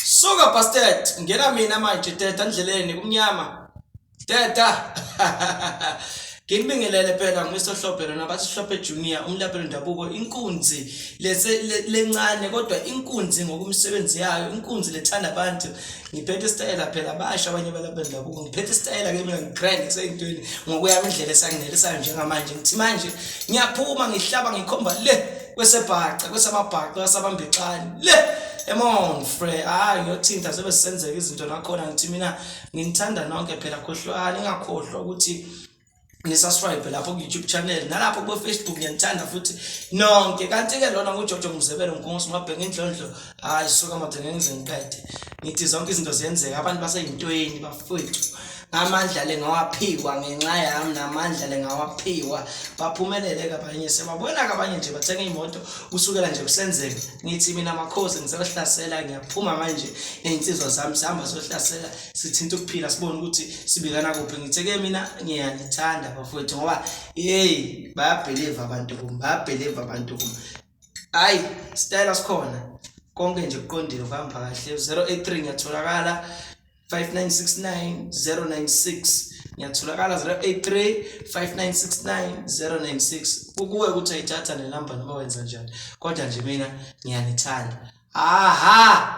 Suka bastard ngena mina manje teta endleleni kumnyama teta Nginibingelele phela ngisohlophe lona basihlophe junior umlapelo ndabuko inkunzi lese lencane kodwa inkunzi ngokumsebenzi yayo inkunzi lethanda abantu ngiphethe isitayela phela basha abanye abalapelo ndabuko ngiphethe isitayela ke mina ngigrand kuseyintweni ngokuya indlela esanginelisayo njengamanje ngithi manje ngiyaphuma ngihlaba ngikhomba le kwesebhaca kwesamabhaca kwasabambexani le emon fre hayi ngiyothinta sebe sisenzeka izinto nakhona ngithi mina nginithanda nonke phela khohlwani ingakhohlwa ukuthi nisasribe lapho ku-youtube channel nalapho kufacebook ngiyanithanda futhi nonke kanti-ke lona ngujojo mzebelo nkongosi mabheka indlondlo hayi suka madoda ngeke ngize ngiqede ngithi zonke izinto ziyenzeka abantu baseyintweni bafowethu amandla le ngawaphiwa ngenxa yami namandla le ngawaphiwa baphumelele kabanye sebabona kabanye nje bathenga imoto kusukela nje kusenzeka ngithi mina makhosi ngizohlasela ngiyaphuma manje ney'nsizwa zami sihamba sohlasela sithinta ukuphila sibone ukuthi sibikana kuphi ngithe-ke mina ngiyanithanda bafowethu ngoba yeyi bayabheliva abantu kum bayabheliva abantu kum hayi sitayela sikhona konke nje kuqondile kuhamba kahle 083 ngiyatholakala 5969 096 ngiyatholakala 0835969096 kukuwe ukuthi ayithatha le number noma wenza njani kodwa nje mina ngiyanithanda aha